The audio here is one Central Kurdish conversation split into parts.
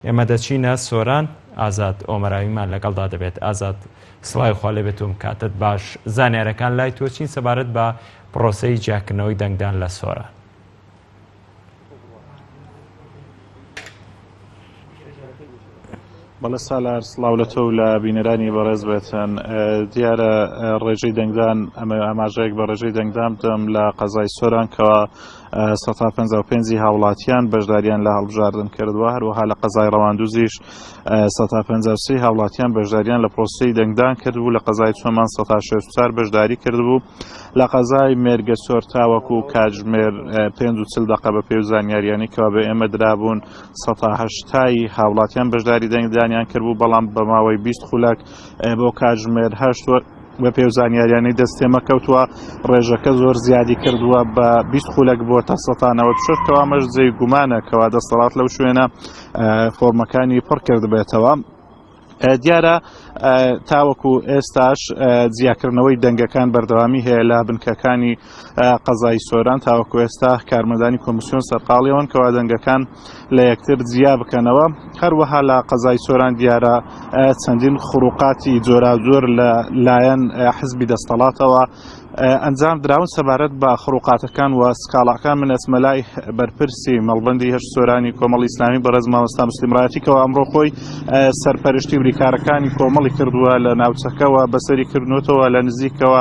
ئێمە دەچینە سۆران ئازاد ئۆمەراویمان لەگەڵدا دەبێت ئازاد سڵاوی خوا لێ بێت و بکاتت باش زانیارەکان لای تۆ چین سەبارەت بە پرۆسەی جیاکردنەوەی دەنگدان لە سۆران بەڵێ سالار سڵاو لە تۆ لە بینەرانی بەڕێز بێتن دیارە ڕێژەی دەنگدان ئەمە ئاماژەیەک بە ڕێژەی دەنگدان بدەم لە قەزای سۆرانکەوە سەد و پەنجا و پێنج هاوڵاتیان بەشداریان لە هەڵبژاردن کردووە هەروەها لە قەزای ڕەواندوزیش سەد و پەنجا و سێ هاوڵاتیان بەشداریان لە پرۆسەی دەنگدان کردبوو لە قەزای چۆمان سەد و شەست و چوار بەشداری کردبوو لە قەزای مێرگە سۆر تاوەکو و کاتژمێر اه، پێنج و چل دەقە بە پێ و زانیاریانی کەوا بە ئێمە درابوون سەد و هەشتای هاوڵاتیان بەشداری دەنگدانیان کردبوو بەڵام بە ماوەی بیست خولەک اه، بۆ کاتژمێر هەشت وە بەپێو زانیاریانەی دەست تێمە کەوتووە ڕێژەکە زۆر زیادی کردووە بە بیست خولەک بۆ تا سەتانەوە شش کەوامەش جێی گومانە کەوا دەسەڵات لەو شوێنە فۆرمەکانی پڕ کردبێتەوە دیارە تاوەکو ئێستاش جیاکردنەوەی دەنگەکان بەردەوامی هەیە لە بنکەکانی قەزای سۆران تاوەکو ئێستا کارمەندانی کۆمسیۆن سەرقاڵیەوەن کەوا دەنگەکان لە یەکتر جیا بکەنەوە هەروەها لە قەزای سۆران دیارە چەندین خروقاتی جۆراجۆر لە لایەن حزبی دەستەڵاتەوە ئەنجام دراون سەبارەت بە خروقاتەکان و سکاڵاکان من ئەسمەلای بەرپرسی مەڵبندی هەر سۆرانی کۆمەڵ ئیسلامی بەڕێز مامۆستا مسللیمڕاتیکەوە ئەمڕۆ خۆی سەرپەرشتی بریکارەکانی کۆمەڵی کردووە لە ناوچەکەەوە بەسەری کردنوتەوە لە نزیکەوە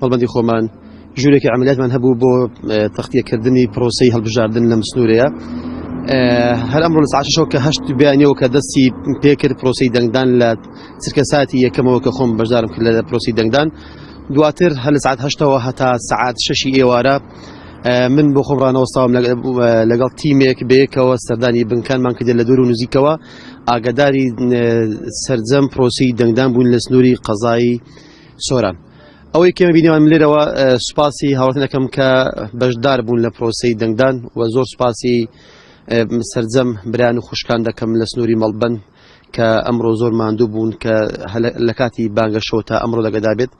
مەڵبەندی خۆمان ژوورێکی عملیاتمان هەبوو بۆ تەختیەکردنی پرۆسی هەڵبژاردن لەم سنوورەیە هەر ئەمڕۆ لە ساعت شەو کە هەشت بیانەوە کە دەستی پێکرد پرۆسی دەنگدان لە چرکە ساتی یەکەمەوە کە خۆم بەشدارم کرد لە پرۆسی دەنگدان دواتر هەر لە ساعت هەشتەوە هەتا سعات شەشی ئێوارە من بۆ خۆم ڕانەوەستاوم لەگەڵ تیمێک بەیەکەوە سەردانی بنکانمان کردێت لە دوور و نزیکەوە ئاگداری سرجەم پرۆسی دەنگدان بوون لە سنووری قەزایی سۆران ئەوەی کێمە بینیوان لێرەوە سوپاسی هاوڵاتن دەکەم کە بەشدار بوون لە پرۆسی دەنگدان و زۆر سوپاسی سرجەم بران و خوشکان دەکەم لە سنووری مەڵبن کە ئەمڕۆ زۆر ماندوو بوون کە لە کاتی بانگەشەوە تا ئەمڕۆ لەگەدا بێت